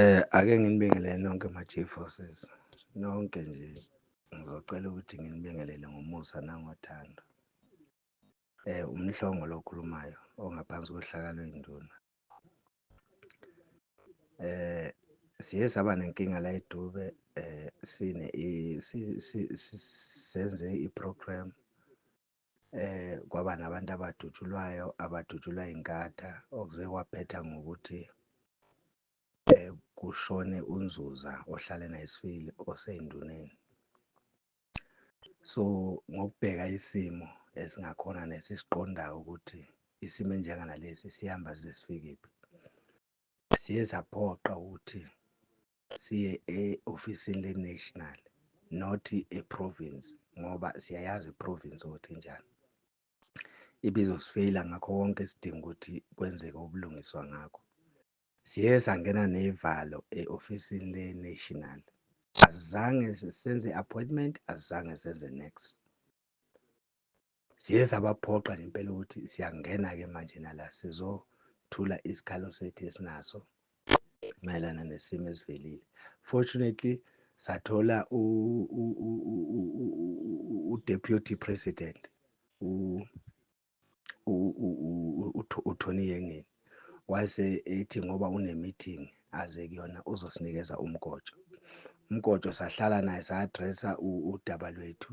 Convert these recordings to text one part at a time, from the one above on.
Eh ake nginibingelele nonke ma G forces nonke nje ngizocela ukuthi nginibingelele ngomusa nangothando. Eh umhlongo lokhulumayo ongaphansi kohlaka lwenduna. Eh siye saba nenkinga la edube eh sine senze iprogram um kwaba nabantu abadutshulwayo abadutshulwa inkatha okuze kwaphetha ngokuthi um kushone unzuza ohlale nayisifili oseyinduneni so ngokubheka isimo esingakhona nesisiqondayo ukuthi isimo enjenganalesi sihamba size sifikephi siye saphoqa ukuthi siye e-ofisini le-national not e-province ngoba siyayazi i-province ukuthi njani ibizosifeyila ngakho konke isidinga ukuthi kwenzeke ubulungiswa ngakho siye sangena nevalo e-ofisini le-national asizange senze appointment asizange senze next Siye sabaphoqa ngempela ukuthi siyangena-ke manje nala sizothula isikhalo sethu esinaso mayelana nesimo esivelile. Fortunately sathola u-deputy president uThoni Yengeni wase ethi ngoba une-meeting aze kuyona uzosinikeza umgojo. Umgojo sahlala naye sa-addressa udaba lwethu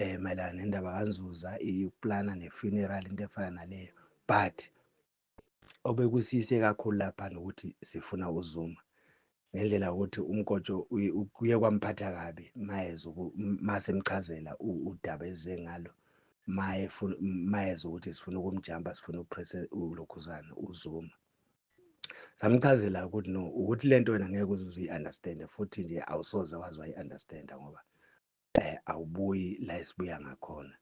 eh mayelana nendaba kaNzuza iplana nefuneral into efana naleyo but obekusise kakhulu lapha nokuthi sifuna uZuma ngendlela ukuthi uMkotsho kuye kwamphatha kabi mayeza masemchazela udaba eze ngalo maye mayeza ukuthi sifuna ukumjamba sifuna upresse ulokhuzana uZuma samchazela ukuthi no ukuthi lento wena ngeke uzuze uyi-understande futhi nje awusoze wazi wayi-understanda ngoba eh awubuyi la esibuya ngakhona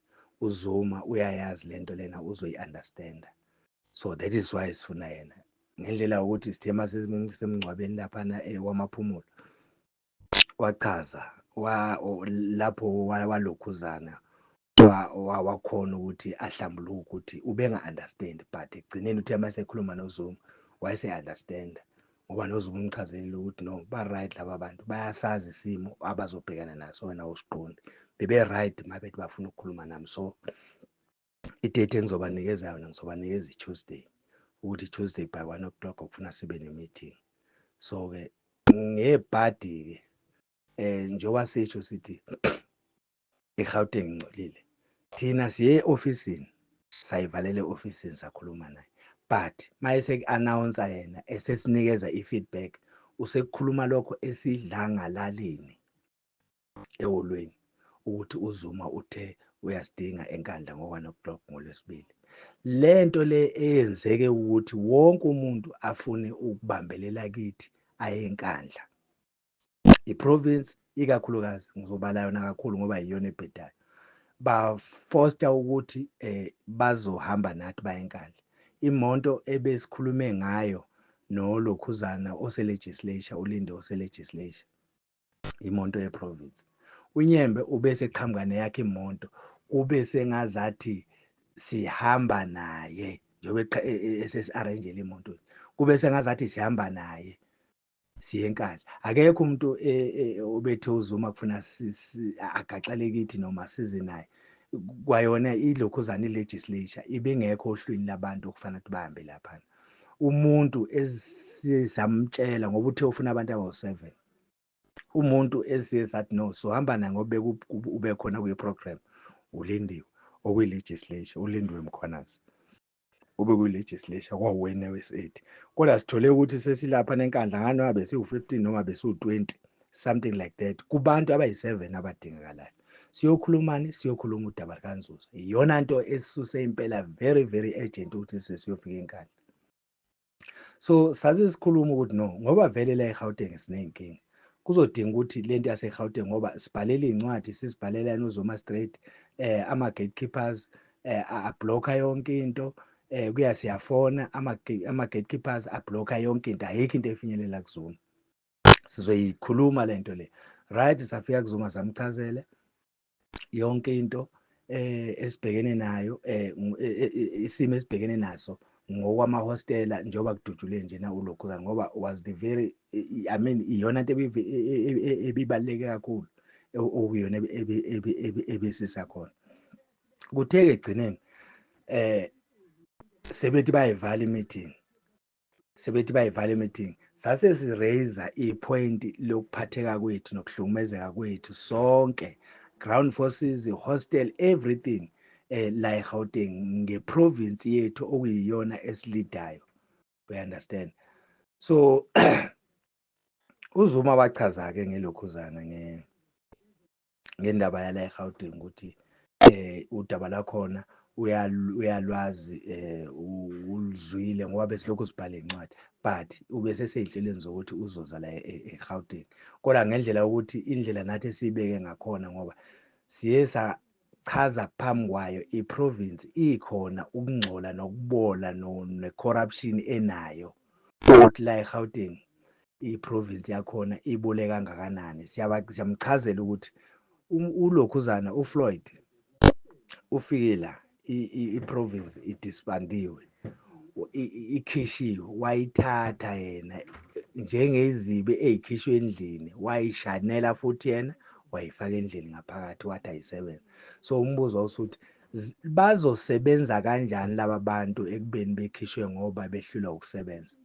uzuma uyayazi lento lena uzoyi understand so that is why sifuna yena ngendlela ukuthi sithema semngcwabeni lapha na eh, wamaphumulo wachaza wa lapho walokhuzana wakhona ukuthi ahlambuluke ukuthi ubenga understand but ekugcineni uthe uma sekhuluma nozuma wayese understand ngoba noze umchazelile ukuthi no ba-right laba bantu bayasazi isimo abazobhekana naso wena usiqondi bebe-right uma bethi bafuna ukukhuluma nami so idate engizobanikeza yona ngizobanikeza i-tuesday ukuthi i-tuesday by one o'clock okufuna sibe ne-meeting so-ke ngebhadi-ke um njengoba sisho sithi eGauteng ngcolile thina siye e-ofisini sayivalela e-ofisini sakhuluma naye but maye seku-announsa yena esesinikeza i-feedback usekukhuluma lokho esidlangalaleni eholweni ukuthi uzuma uthe uyasidinga enkandla ngo-one o'clock ngolwesibili le nto le eyenzeke ukuthi wonke umuntu afune ukubambelela kithi aye enkandla iprovince ikakhulukazi ngizobala yona kakhulu ngoba yiyona ebhedayo bafoster ukuthi eh bazohamba nathi bayenkandla imonto ebesikhulume ngayo nolokhuzana oselegislature ulinde oselegislature imonto yeprovince unyembe ubese qhamuka neyakhe imonto kube sengazathi sihamba naye njengoba esesi-arrangele imontweni kube sengazathi sihamba naye siyenkandla akekho umuntu e, e, obethe uzuma kufuna agaxele kithi noma size naye kwayona ilokhuzane legislature ibingekho ohlwini labantu okufana ukuthi bahambe laphana umuntu esisamtshela ngoba uthe ufuna abantu abawu-7 umuntu esiye sathi no sohamba naye ngoba ube khona kwi-program ulindiwe okuyi-legislature ulindiwe mkhwanazi ube kwi-legislature kwawena we-state kodwa sithole ukuthi sesilapha nenkandla ngani noma besiwu-15 noma besiwu-20 something like that kubantu abayi-7 abadingakalayo siyokhulumani siyokhuluma udaba lukanzuza iyona nto esisuse impela very very urgent ukuthi sesiyofika enkandla so saze sikhuluma ukuthi no ngoba vele la eGauteng siney'nkinga kuzodinga ukuthi le nto yaseGauteng ngoba sibhalela iy'ncwadi sizibhalela nozoma straight eh ama-gatekeepers eh abhlokha yonke into eh kuya siyafona ama-gatekeepers abhlokha yonke into ayikho into efinyelela kuzuma sizoyikhuluma le nto le right safika kuzuma samchazele yonke into eh esibhekene nayo eh isimo esibhekene naso ngokwamahostela njengoba kudutshule nje na ulokhuzana ngoba was the very i mean iyona into ebibaluleke kakhulu okuyona ebesisa khona kuthe-ke ekugcineni eh sebethi bayivala i-meeting sebethi bayivala imeeting sase siraise ipoint lokuphatheka kwethu nokuhlukumezeka kwethu sonke ground forces hostel everything eh la eGauteng ngeprovince yethu okuyiyona esilidayo we understand so uzuma wachaza ke ngelokhuzana nge ngendaba yala eGauteng ukuthi eh udaba lakhona uyalwazi eh uluzwile ngoba besilokhu sibhala incwadi but ubeseseyinhlelweni zokuthi uzoza la e, e, eGauteng kodwa ngendlela ukuthi indlela nathi esiyibeke ngakhona ngoba siye sachaza phambi kwayo iprovince ikhona ukungcola nokubola ne-corruption enayo ukuthi la eGauteng iprovince yakhona ibole kangakanani siyamchazela ukuthi um, ulokhuzana ufloyd ufike la iprovince idisbandiwe ikhishiwe wayithatha yena njengezibi ezikhishwe endlini wayishanela futhi yena wayifaka endlini ngaphakathi wathi ayisebenze so umbuzo usuthi bazosebenza kanjani laba bantu ekubeni bekhishwe ngoba behlulwa ukusebenza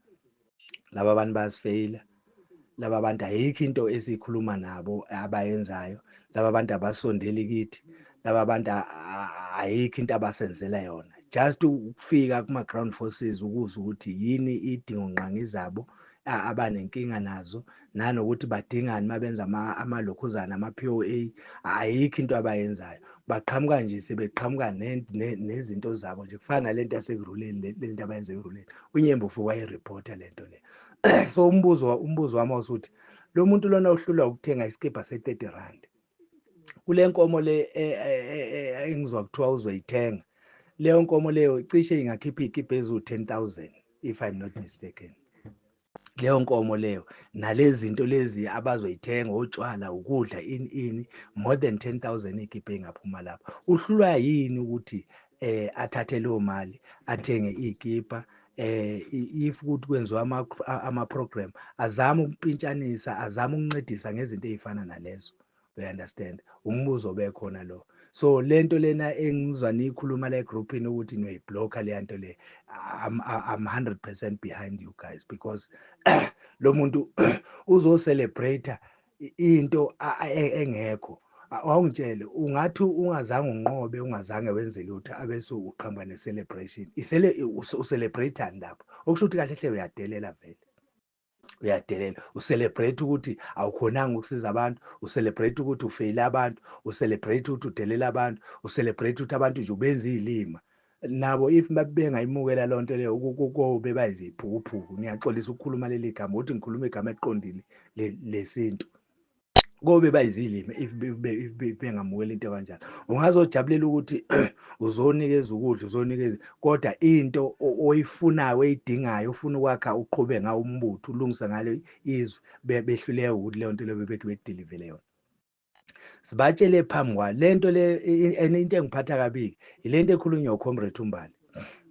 laba bantu bayasifeyila laba bantu ayikho into esiyikhuluma nabo abayenzayo laba bantu abasondeli kithi laba bantu ayikho into abasenzela yona just ukufika kuma-ground forces ukuzwa ukuthi yini idingo nqangi zabo abanenkinga nazo nanokuthi badingani uma benza amalokhuzana ama-p o a ayikho into abayenzayo baqhamuka nje sebeqhamuka nezinto zabo nje kufana nale nto yasekuruleni le nto abayenza ekuruleni unyembo fuke wayerephotha le nto le so umbuzo umbuzo wami wasuthi lo muntu lona uhlulwa ukuthenga isikibha se-thirty rand kule nkomo le e, e, e, engizwa kuthiwa uzoyithenga leyo nkomo leyo cishe ingakhipha iy'kibha eziwu-ten thousand if i'm not mistaken leyo nkomo leyo nalezi zinto lezi abazoyithenga otshwala ukudla ini ini more than 10000 ikhiphe ingaphuma lapho uhlulwa yini ukuthi eh athathe leyo mali athenge ikipa eh if ukuthi kwenziwa ama ama program azama ukumpintshanisa azama ukuncedisa ngezinto ezifana nalezo we understand umbuzo obekhona lo so lento lena engizwa niyikhuluma la egroupini ukuthi niyoyiblocker leya nto le I'm, I'm 100% behind you guys because lo muntu uzocelebrate into e, engekho awungitshele ungathi ungazange unqobe ungazange wenze lutho abese uqhamuka ne-celebration ucelebrate-ani lapho okusho ukuthi kahle hle uyadelela vele uyadelela ucelebrate ukuthi awukhonanga ukusiza abantu ucelebrate ukuthi ufeyile abantu ucelebrate ukuthi udelela abantu ucelebrate ukuthi abantu nje ubenza iy'lima nabo if bengayimukela loo nto leyo kobe bayiziphukuphuku ngiyaxolisa ukukhuluma leli gama ukuthi ngikhuluma igama eliqondile lesintu kobe bayizilimi if bengamukela into kanjalo ungazojabulela ukuthi uzonikeza ukudla uzonikeza kodwa into oyifunayo oyidingayo ufuna ukwakha uqhube ngawo umbutho ulungise ngalo izwe behluleke ukuthi leyo nto leyo bebethi bedilivele yona sibatshele phambi kwa le nto le and into engiphatha kabiki yile nto ekhulunywa ucomrade umbali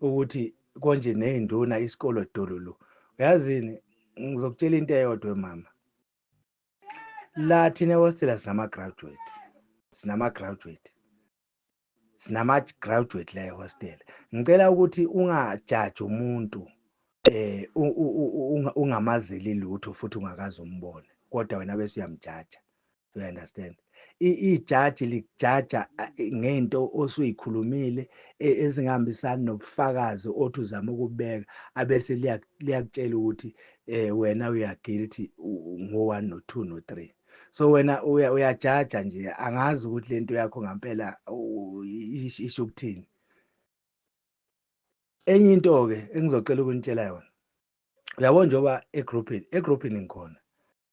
ukuthi konje ney'nduna isikolo dololo uyazini ngizokutshela into eyodwa mama la thina ehostela sinama-graduate sinama-graduate sinama-graduate la ehostela ngicela ukuthi ungajaji umuntu eh ungamazeli lutho futhi ungakazi umbone kodwa wena bese uyamjaja you understand ijaji likujaja ngento osuyikhulumile e, ezingahambisani nobufakazi othi uzama ukubeka abese liyakutshela ukuthi eh wena uya guilty ngo-1 no-2 no-3 so wena uyajaja nje angazi ukuthi lento yakho ngampela isho ukuthini enye into-ke engizocela ukunitshela yona uyabo njengoba egroupini egroupini ngikhona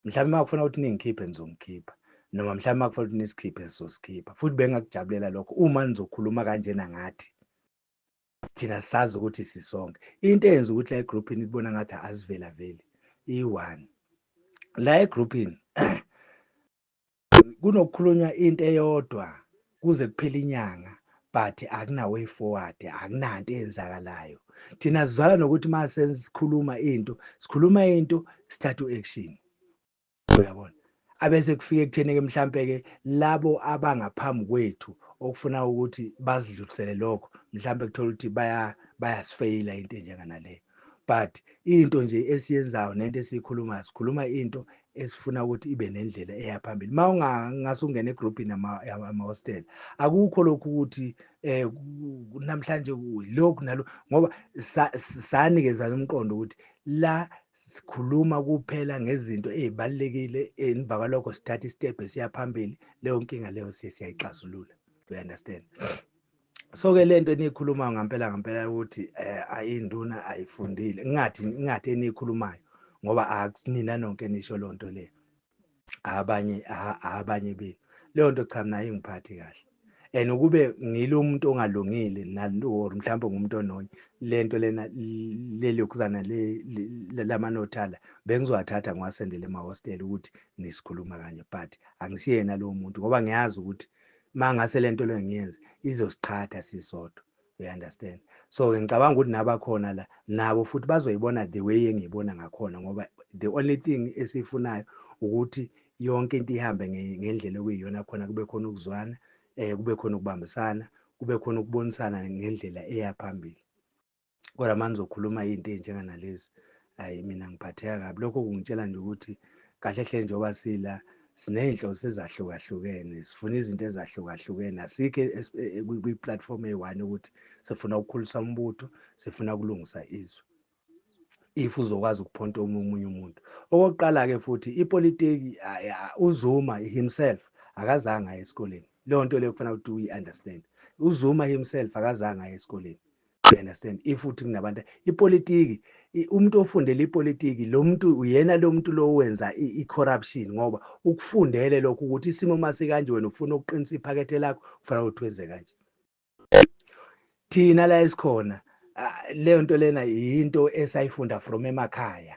mhlawumbe uma kufuna ukuthi ningikhiphe nizongikhipha noma mhlawumbe uma kufuna ukuthi nisikhiphe sizosikhipha futhi bengakujabulela lokho uma nizokhuluma kanjena ngathi thina sazi ukuthi sisonke into eyenza ukuthi la egrouphini ikubona ngathi azivelaveli iyi-one la egrouphini kunokukhulunywa into eyodwa kuze kuphele inyanga but akuna way forward akunanto eyenzakalayo thina sizwala nokuthi uma sesikhuluma into sikhuluma into sithatha u-action uyabona abese kufike ekutheni-ke mhlampe-ke labo abangaphambi kwethu okufuna ukuthi basidlulisele lokho mhlampe kuthola ukuthi bayasifeyila into enjenganaleyo But into nje esiyenzayo nento esiyikhulumayo sikhuluma into esifuna ukuthi ibe nendlela eya phambili uma ungase ungene egroupini amahostela akukho lokhu ukuthi um namhlanje lokhu nalo ngoba sanikezana umqondo ukuthi la sikhuluma kuphela ngezinto ey'balulekile emva kwalokho sithatha isitebhe siya phambili leyo nkinga leyo siyayixazulula you understand so ke lento eniyikhulumayo ngampela ngampela ukuthi eh ayinduna ayifundile ngingathi ngingathi eniyikhulumayo ngoba akunina nonke nisho lonto le abanye abanye be leyo nto cha mina ingiphathi kahle and ukube ngilo umuntu ongalungile or mhlawumbe ngumuntu ononya lento lena lelokuzana lamanothala bengizowathatha ngiwasendele emahostela ukuthi nisikhuluma kanye but angisiyena lowo muntu ngoba ngiyazi ukuthi Mangase lento le ngiyenze izosiqhatha sisodwa you understand so ke ngicabanga ukuthi nabakhona la nabo futhi bazoyibona the way engiyibona ngakhona ngoba the only thing esifunayo ukuthi yonke into ihambe ngendlela okuyiyona khona kube khona ukuzwana eh kube khona ukubambisana kube khona ukubonisana ngendlela eya phambili kodwa manje zokhuluma into enjenga nalezi hayi mina ngiphatheka kabi lokho kungitshela nje ukuthi kahle hle njengoba sila sinezinhloso ezahlukahlukene sifuna izinto ezahlukahlukene asike e, e, kwi platform eyi-one ukuthi sifuna ukukhulisa umbutho sifuna ukulungisa izwe if uzokwazi ukuphonta omunye umuntu okokuqala ke futhi ipolitiki uzuma himself akazange aye esikoleni leyo nto leyo kufanele ukuthi uyi-understand uzuma himself akazange aye esikoleni you understand if uthi kunabantu ipolitiki umuntu ofundele ipolitiki lo muntu uyena lo muntu lo wenza i-corruption ngoba ukufundele lokho ukuthi isimo masikanje wena ufuna ukuqinisa iphakethe lakho kufanele ukuthi wenze kanje thina la esikhona leyo nto lena yinto esayifunda from emakhaya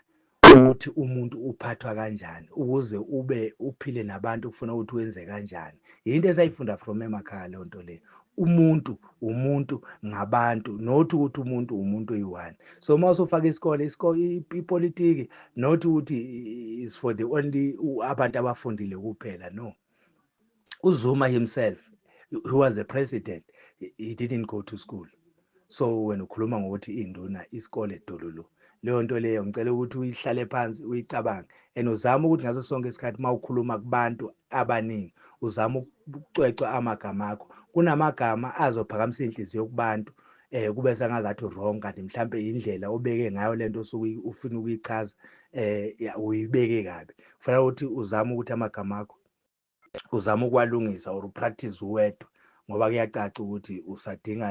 Ukuthi umuntu uphathwa kanjani ukuze ube uphile nabantu kufuna ukuthi wenze kanjani. Yinto esayifunda from emakhaya leyo nto le. Umuntu umuntu ngabantu not ukuthi umuntu umuntu oyi-one. So uma usufaka isikole ipolitiki not ukuthi is for the only abantu abafundile kuphela no. uZuma himself who was a president he didn't go to school so wena ukhuluma ngokuthi induna isikole dololo leyo nto leyo ngicela ukuthi uyihlale phansi uyicabange and uzame ukuthi ngaso sonke isikhathi uma ukhuluma kubantu abaningi uzame ukucwecwa amagama akho kunamagama azophakamisa inhliziyo kubantu eh kube sengazathi wrong kanti mhlambe indlela obeke ngayo lento osuke ufuna ukuyichaza eh uyibeke kabi kufanele ukuthi uzame ukuthi amagama akho uzama ukwalungisa or upractice uwedwa ngoba kuyacaca ukuthi usadinga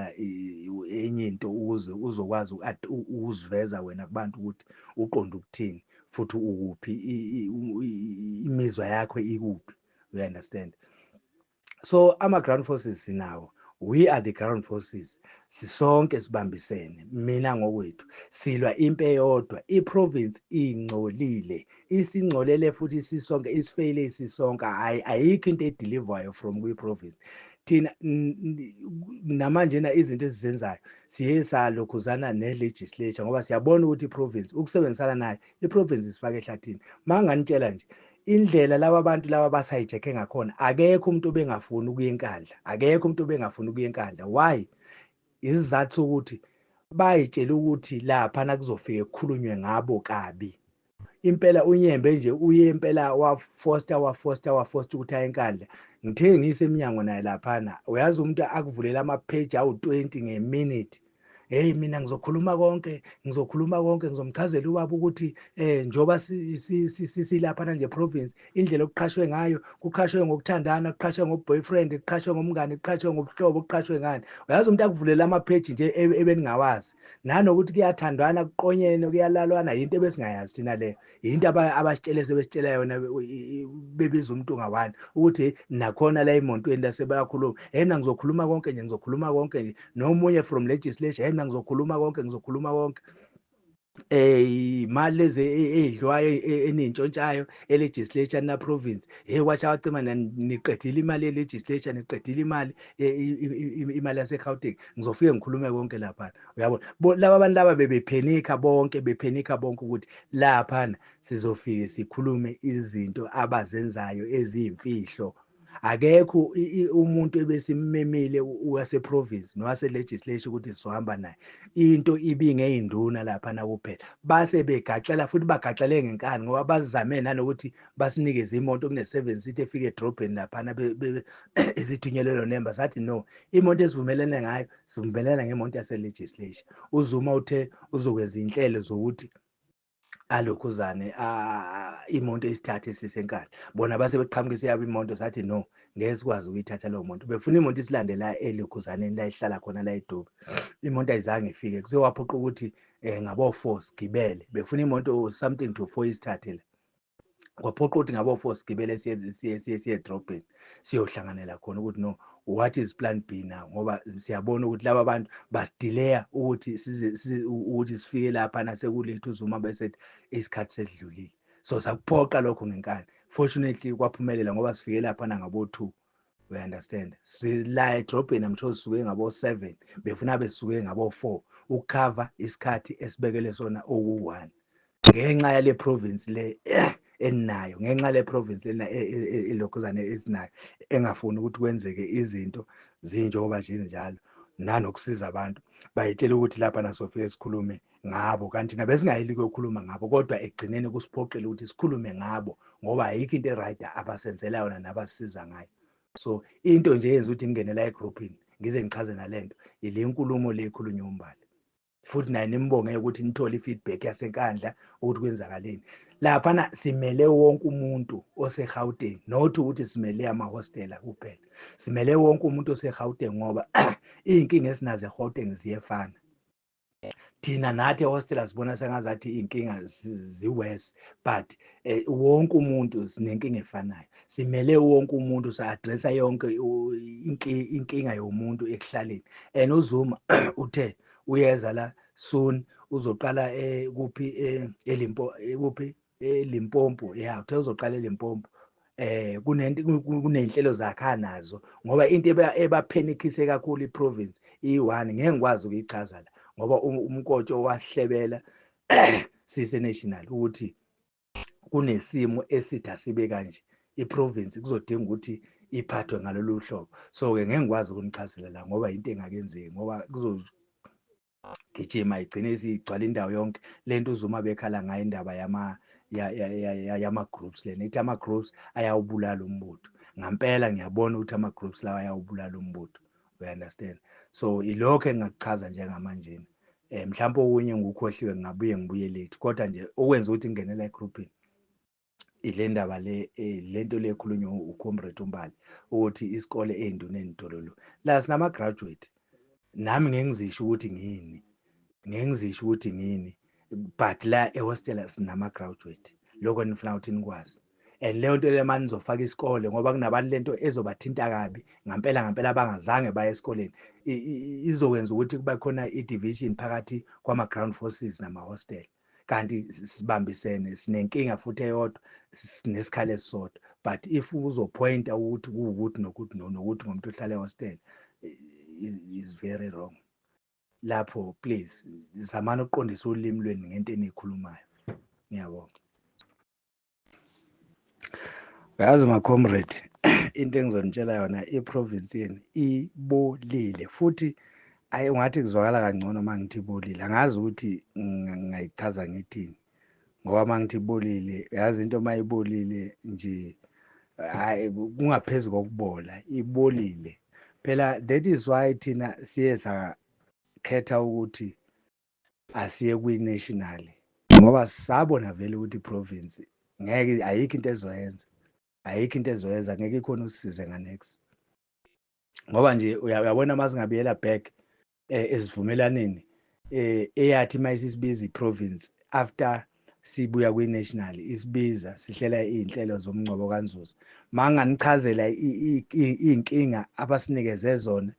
enye into ukuze uzokwazi ukuziveza wena kubantu ukuthi uqonda ukuthini futhi ukuphi imizwa yakho ikuphi you understand so ama-ground forces sinawo we are the ground forces sisonke sibambisene mina ngokwethu silwa impi eyodwa iprovince ingcolile isingcolele futhi sisonke isifeyile isisonke hayi ayikho into edeliverwayo from kwi-province thina namanjena izinto esizenzayo siye salokhuzana ne-legislature ngoba siyabona ukuthi i-province ukusebenzisana nayo i-province isifake ehlathini ma nganitshela nje indlela laba bantu laba basayijekhe ngakhona akekho umuntu obengafuni ukuya enkandla akekho umuntu obengafuni ukuya enkandla why isizathu sokuthi bayitshela ukuthi lapha nakuzofike kukhulunywe ngabo kabi impela unyembe nje uye impela wafosta wafosta wafosta ukuthi aye enkandla ngithe ngisemnyango naye laphana uyazi umuntu akuvulela amapheji awu-20 ngeminute heyi mina ngizokhuluma konke ngizokhuluma konke ngizomchazela ubaba ukuthi um njengoba silaphana nje province indlela okuqhashwe ngayo kuqhashwe ngokuthandana kuqhashwe ngoboyfriend kuqhashwe ngomngane kuqhashwe ngobuhlobo kuqhashwe ngani uyazi umuntu akuvulela amapheji nje e, ebeningawazi nanokuthi kuyathandwana kuqonyene kuyalalwana yinto ebesingayazi thina leyo yinto abasitshele sebesitshela yona bebiza umuntu ngawani ukuthi nakhona la emontweni lasebayakhuluma yena ngizokhuluma konke nje ngizokhuluma konke nje nomunye from legislation yena ngizokhuluma konke ngizokhuluma konke eh imali lezi e, e, edliwayo e, enintshontshayo elegislature na province hey watcha wacima niqedile imali elegislature niqedile imali imali yase Gauteng ngizofike ngikhulume konke lapha uyabo laba abantu laba bebephenika bonke bephenika bonke ukuthi lapha sizofike sikhulume izinto abazenzayo eziyimfihlo akekho umuntu ebesimmemile wase province nowase legislature ukuthi sizohamba naye into ibinge induna lapha na kuphela base begaxela futhi bagaxele ngenkani ngoba bazame nanokuthi basinikeze imoto kune seven seat efike edrobheni lapha na ezithunyelelo nemba sathi no imoto esivumelene ngayo sivumelana ngemonto yase legislature uzuma uthe uzokwenza inhlelo zokuthi alokhuzane imonto isithathe isise enkandla bona base beqhamuka isiyabo imonto sathi no ngeke sikwazi ukuyithatha leyo monto befuna imonto isilande la elokhuzaneni la ihlala khona la edobi imonto ayizange ifike kuse waphoqa ukuthi um eh, ngabo-four sigibele befuna imonto something to four isithathe la kwaphoqa ukuthi ngabo-four sigibele siye edrobheni siyohlanganela khona ukuthi no what is plan b now ngoba siyabona ukuthi laba bantu basidileya ukuthi ukuthi sifike lapha nasekuletha uzuma bese isikhathi sedlulile so sakuphoqa lokho ngenkani fortunately kwaphumelela ngoba sifike lapha nangabo-two we understand sila edrobheni amtho sisuke ngabo 7 befuna besuke ngabo 4 ukukhava isikhathi esibekele sona oku1 ngenxa yale province le eh, eninayo ngenxa le province lena e, e, e, ilokhuzane esinayo engafuni ukuthi kwenzeke izinto zinjengoba nje njalo nanokusiza abantu bayitshela ukuthi lapha nasofike sikhulume ngabo kanti nabesingayeli kuyokhuluma ngabo kodwa ekugcineni kusiphoqile ukuthi sikhulume ngabo ngoba ayikho into e-right abasenzela yona nabasisiza ngayo so into nje yenza ukuthi ngingenela egrouphini ngize ngichaze nale nto ile nkulumo le ekhulunywa umbali futhi naye nimbongeke ukuthi nithole i-feedback yasenkandla ukuthi kwenzakaleni laphana simele wonke umuntu osegauteng not ukuthi simele amahostela kuphela simele wonke umuntu osegauteng ngoba iy'nkinga esinazo egauteng ziyefana thina nathi ehostela sibona sengazathi iy'nkinga ziwes but eh, wonke umuntu sinenkinga efanayo simele wonke umuntu sa-adressa yonke inkinga yomuntu ekuhlaleni and uzuma uthe uyeza la soon uzoqala eh, kuphi eh, elimpo kuphi eLimpopo ya uthe uzoqala eLimpopo eh kunento kunenhlelo zakha nazo ngoba into ebaphenikise kakhulu iprovince i1 ngeke ngikwazi ukuyichaza la ngoba umkotsho wahlebela sise national ukuthi kunesimo esitha sibe kanje iprovince kuzodinga ukuthi iphathwe ngalolu hlobo so-ke ngeke ngikwazi ukunichazela la ngoba yinto engakenzeki ngoba gijima igcine isigcwala indawo yonke lento uZuma bekhala ngayo indaba yama yama groups lena ithi ama groups ayawubulala umbutho ngampela ngiyabona ukuthi ama groups lawa ayawubulala umbutho we understand so ilokho engakuchaza njengamanje eh mhlawumbe okunye ngukhohliwe ngabuye ngibuye late kodwa nje okwenza ukuthi ngingenela egroupini ile ndaba le eh, le nto le ekhulunywa ucomrade umbali ukuthi isikole ey'nduneni dololo la sinama-graduate nami ngeke ngizisho ukuthi ngini ngeke ngizisho ukuthi ngini but la ehostela sinama-graduate lokho nifuna ukuthi nikwazi and leyo nto leyo mani nizofaka isikole ngoba kunabantu lento ezobathinta kabi ngampela ngampela abangazange baye esikoleni izokwenza ukuthi kube khona i-division phakathi kwama-ground forces nama-hostela kanti sibambisene sinenkinga futhi eyodwa sinesikhala esisodwa but if uzophoyinta ukuthi kuwukuthi nokuthi nokuthi ngomuntu ohlala ehostela is very wrong lapho please zamani ukuqondisa ulimi lweni ngento eniyikhulumayo ngiyabonga yazi macomrade into engizonitshela yona iprovince yenu ibolile futhi ayi ungathi kuzwakala kangcono uma ngithi ibolile angazi ukuthi ngayichaza ngithini ngoba uma ngithi ibolile yazi into uma ibolile nje hayi kungaphezu kokubola ibolile phela that is why thina siye sakhetha ukuthi asiye kwi-national ngoba sabona vele ukuthi i-province ngeke ayikho into ezoyenza ayikho into ezoyenza ngeke ikhona usisize nganex ngoba nje uyabona uma singabuyela back eh, esivumelaneni eh, eyathi uma isisibiza i-province after sibuya kwi-national isibiza sihlela iy'nhlelo zomngcwabo kanzuza ma nganichazela iy'nkinga abasinikeze zona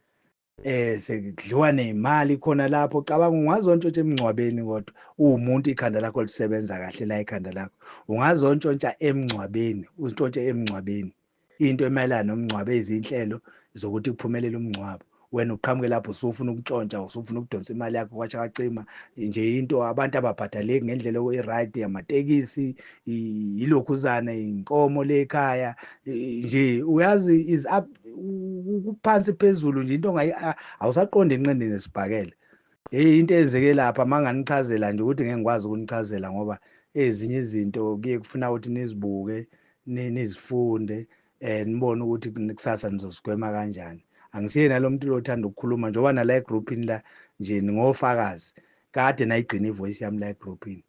eh sekudliwa nezimali khona lapho cabanga ungazontshotsha emngcwabeni kodwa uwumuntu ikhanda lakho lisebenza kahle la ikhanda lakho ungazontshotsha emngcwabeni uzintshontshe emngcwabeni into emayelana nomngcwabo ezinhlelo zokuthi kuphumelele umngcwabo wena uqhamuke lapho usufuna ukutshontsha usufuna ukudonsa imali yakho kwashakacima nje into abantu ababhadaleki ngendlela i-right yamatekisi yilokhuzana inkomo lekhaya nje uyazi is up kuphansi phezulu nje into ngayi awusaqonda inqindi nesibhakele hey into eyenzeke lapha manganichazela nje ukuthi ngeke ngikwazi ukunichazela ngoba ezinye izinto kuye kufuna ukuthi nizibuke nizifunde eh nibone ukuthi kusasa nizosigwema kanjani angisiyena lo muntu lothanda ukukhuluma njengoba nala egroupini la nje ningofakazi kade nayigcina ivoice yami la egroupini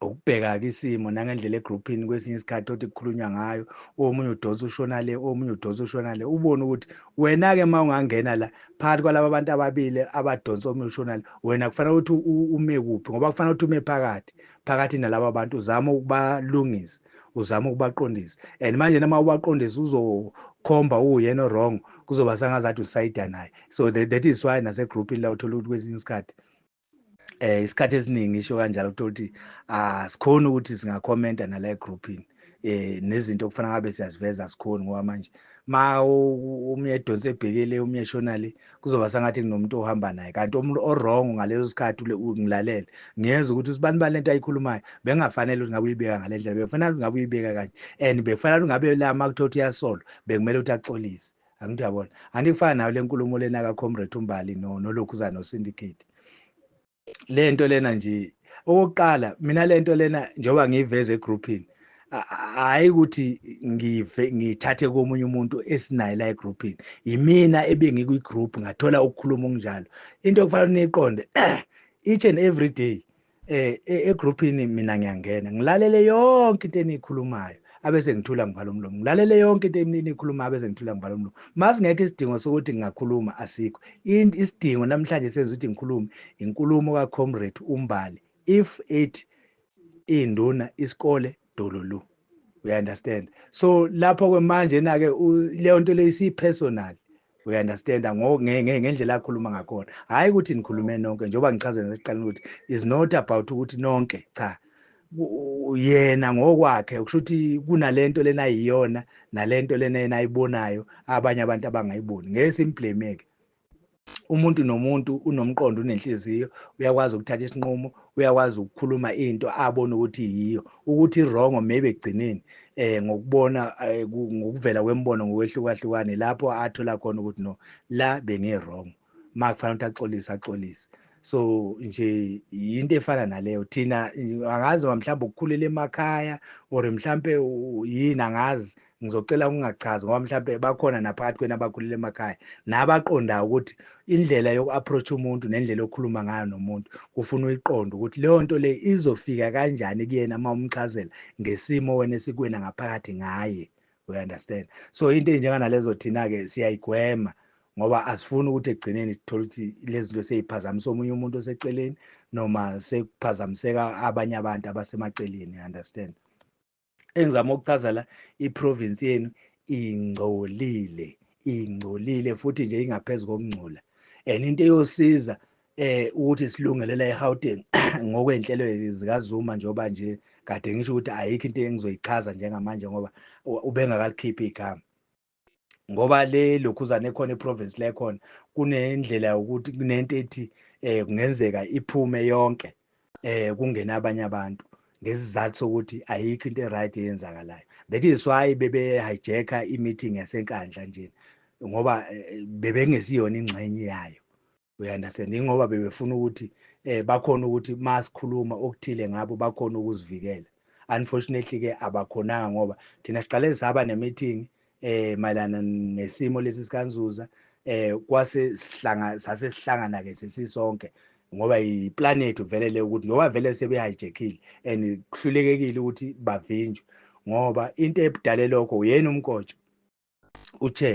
ukubheka-ke isimo nangendlela egruphini kwesinye isikhathi othi kukhulunywa ngayo omunye udonsa ushona le omunye udonsa ushona le ubone ukuthi wena-ke uma ungangena la phakathi kwalaba bantu ababili abadonsa omunye ushona le wena kufanele ukuthi ume kuphi ngoba kufanele ukuthi ume phakathi phakathi nalaba bantu uzame ukubalungisa uzame ukubaqondisa and manje noma ubaqondisa uzokhomba uwuyena wrong kuzoba sangazathi usayida naye so that, that is why nasegroupini la uthola ukuthi kwesinye isikhathi eh isikhathi esiningi isho kanjalo uthola ukuthi asikhona ah, ukuthi singakhomenta nala egroupini eh nezinto okufanele ngabe siyaziveza asikhoni ngoba manje ma umye edonse ebhekele umye eshona le kuzoba sangathi kunomuntu ohamba naye kanti omuntu orong ngaleso sikhathi ngilalele ngiyeza ukuthi usibani bani lento ayikhulumayo bengafanele ukuthi ngabe uyibeka ngale ndlela bekufanele ukuthi ngabe uyibeka kanje and bekufanele ukuthi ngabe la makuthothi yasolo bekumele ukuthi axolise angithi yabona anti kufana nayo le nkulumo lena kaComrade uMbali no nolokhuzana noSyndicate le nto lena nje okokuqala mina le nto lena njengoba ngiyiveza egroupini hhayi ukuthi ngive ngithathe komunye umuntu esinaye la egroupini yimina ebengikwi-group ngathola ukukhuluma okunjalo into okufanele niyiqonde each and every day eh e, egroupini mina ngiyangena ngilalele yonke into eniyikhulumayo abese ngithula ngivala umlomo ngilalele yonke into eniyikhulumayo abese ngithula ngivala umlomo mase ngeke isidingo sokuthi ngingakhuluma asikho isidingo namhlanje senza ukuthi ngikhulume inkulumo ka comrade umbali if it induna isikole dololu we understand so lapho kwemanje na ke leyo nto leyo isiyi personal we understand ngendlela akhuluma ngakhona hhayi ukuthi nikhulume nonke njengoba ngichazela sekuqaleni ukuthi is not about ukuthi nonke cha yena ngokwakhe kusho ukuthi kunalento lena ayiyona nalento lena yena ayibonayo abanye abantu abangayiboni ngeke simblameke umuntu nomuntu unomqondo unenhliziyo uyakwazi ukuthatha isinqumo uyakwazi ukukhuluma into abona ukuthi yiyo ukuthi wrong maybe egcineni eh ngokubona eh, ngokuvela kwembono ngokwehlukahlukane lapho athola khona ukuthi no la bengi wrong makufanele ukuthi axolise axolise so nje yinto efana naleyo thina angazi mhlawumbe ukukhulela emakhaya or mhlawumbe yini angazi ngizocela ukungachazi ngoba mhlawumbe bakhona naphakathi kwena abakhulele emakhaya nabaqondayo ukuthi indlela yoku-approach umuntu nendlela yokukhuluma ngayo nomuntu kufuna uyiqonde ukuthi leyo nto le izofika kanjani kuyena uma umchazela ngesimo wena esikwena ngaphakathi ngaye we understand so into enjenganalezo thina-ke siyayigwema ngoba asifuni ukuthi ekugcineni sithole ukuthi lezi zinto seyiphazamisa omunye umuntu oseceleni noma sekuphazamiseka abanye abantu abasemaceleni understand engizama ukuchaza la iprovince yenu ingcolile ingcolile futhi nje ingaphezulu kokungcola and into eyosiza eh ukuthi silungelela eGauteng ngokwenhlelo zikaZuma njengoba nje kade ngisho ukuthi ayikho into engizoyichaza njengamanje ngoba ubengakalikhiphi igama ngoba le lokhuzane ekhona eprovince lekhona kunendlela yokuthi kunento ethi eh kungenzeka iphume yonke eh kungena abanye abantu ngesizathu sokuthi ayikho into eright eyenzakalayo that is why bebe hijacka i-meeting yasenkandla nje ngoba eh, bebengesiyona ingxenye yayo uyandastand ingoba bebefuna ukuthi eh bakhona ukuthi masikhuluma okuthile ngabo bakhona ukuzivikela unfortunately ke abakhonanga ngoba thina siqale saba nemeeting eh mayelana nesimo lesi sikanzuza eh kwase sihlanga sase sihlangana ke sesisonke ngoba yiplan yethu vele le ukuthi ngoba vele sebehijackile and kuhlulekekile ukuthi bavinjwe ngoba into ebudale lokho uyena umkotsho uthe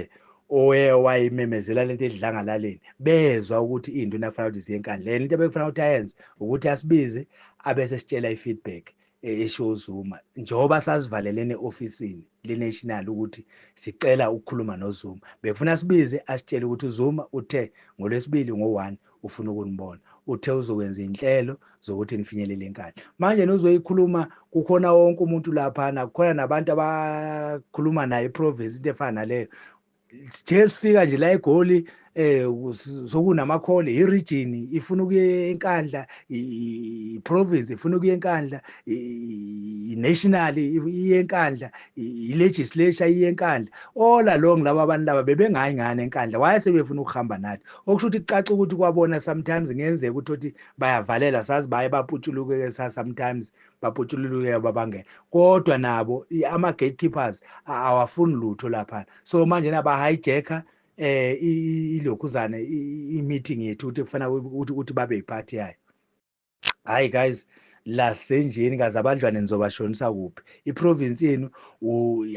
oye wayimemezela lento edlangalaleni bezwa ukuthi into nakufanele ukuthi ziye enkandleni into ebekufanele ukuthi ayenze ukuthi asibize abese sitshela i-feedback e-, esho uZuma njengoba sasivalelene ofisini le-national ukuthi sicela ukukhuluma noZuma bekufuna sibize asitshele ukuthi uZuma uthe ngolwesibili ngo-one ufuna ukunibona. Uthe uzokwenza izinhlelo zokuthi nifinyelele enkandla. Manje nozoyikhuluma kukhona wonke umuntu laphana, kukhona nabantu abakhuluma naye iprovince into efana naleyo. Nje sifika nje la eGoli eh sokunamakhole iregion ifuna ukuye enkandla iprovince ifuna ukuye enkandla inational iye enkandla ilegislature iye enkandla all along laba abantu laba bebengayi ngane enkandla why sebefuna ukuhamba nathi okusho ukuthi kucaca ukuthi kwabona sometimes ngenzeka ukuthi othi bayavalelwa sazi baye baputshulukeke sa sometimes baputshululukeke babangena kodwa nabo ama gatekeepers awafuni lutho lapha so manje naba hijacker eh ilokhuzane i meeting yethu ukuthi kufanele ukuthi babe yiphathi yayo hayi guys lasenjeni kaze abadlwane nizobashonisa kuphi iprovince yenu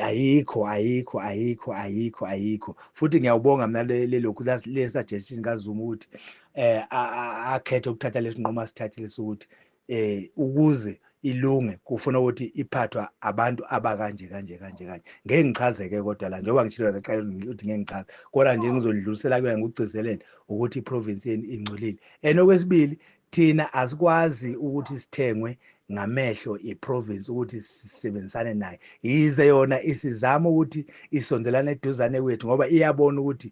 ayikho ayikho ayikho ayikho ayikho futhi ngiyawubonga mina lelokhu le suggestion kazuma ukuthi eh akhethe ukuthatha lesinqumo asithathile sokuthi eh ukuze ilunge kufuna ukuthi iphathwa abantu abakanje kanje kanje kanje ngeke ngichazeke kodwa la njengoba ngishilo ngaqala ukuthi ngeke ngichaze kodwa nje ngizolidlulisela kuyona ngikugcizelele ukuthi iprovince yenu ingcolile and okwesibili Thina asikwazi ukuthi sithengwe ngamehlo iprovince ukuthi sisebenzisane nayo yize yona isizama ukuthi isondelane eduzane kwethu ngoba iyabona ukuthi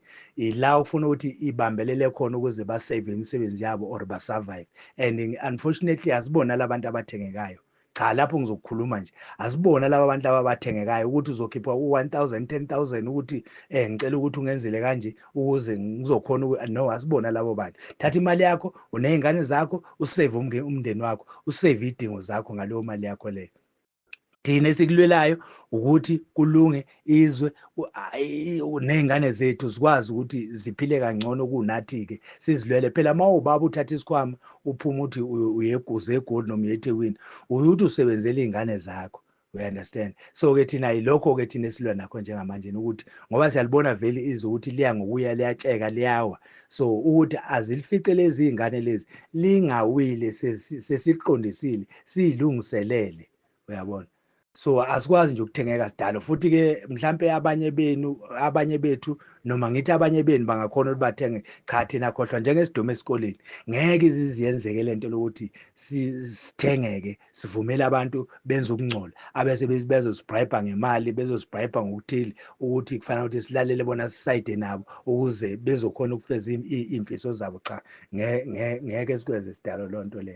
ila okufuna ukuthi ibambelele khona ukuze basave imisebenzi yabo or basurvive and unfortunately asibona labantu abathengekayo cha lapho ngizokukhuluma nje asibona laba bantu laba bathengekayo ukuthi uzokhipha u-1000 10000 ukuthi eh ngicela ukuthi ungenzele kanje ukuze ngizokhona no asibona labo bantu thatha imali yakho unezingane zakho usave umndeni wakho usave idingo zakho ngaleyo mali yakho leyo thina esikulwelayo ukuthi kulunge izwe ney'ngane zethu zikwazi ukuthi ziphile kangcono kunathi-ke sizilwele phela uma ubaba uthatha isikhwama uphuma uthi uyeguza egoli noma uyethekwini uye ukuthi usebenzela iy'ngane zakho we understand so-ke thina yilokho-ke thina esilwa nakho njengamanje ukuthi ngoba siyalibona vele izwe ukuthi liya ngokuya liyatsheka liyawa so ukuthi azilifice lezi iy'ngane lezi lingawile sesiqondisile siyilungiselele uyabona so asikwazi nje ukuthengeka sidalo futhi ke mhlampe abanye benu abanye bethu noma ngithi abanye benu bangakhona ukuthi bathenge cha thina khohlwa njengesidomo esikoleni ngeke iziziyenzeke lento lokuthi sithengeke sivumele abantu benze ukungcola abese bezosibribe ngemali bezosibribe ngokuthile ukuthi kufanele ukuthi silalele bona sisayide nabo ukuze bezokhona ukufeza imfiso zabo cha ngeke sikwenze sidalo lonto le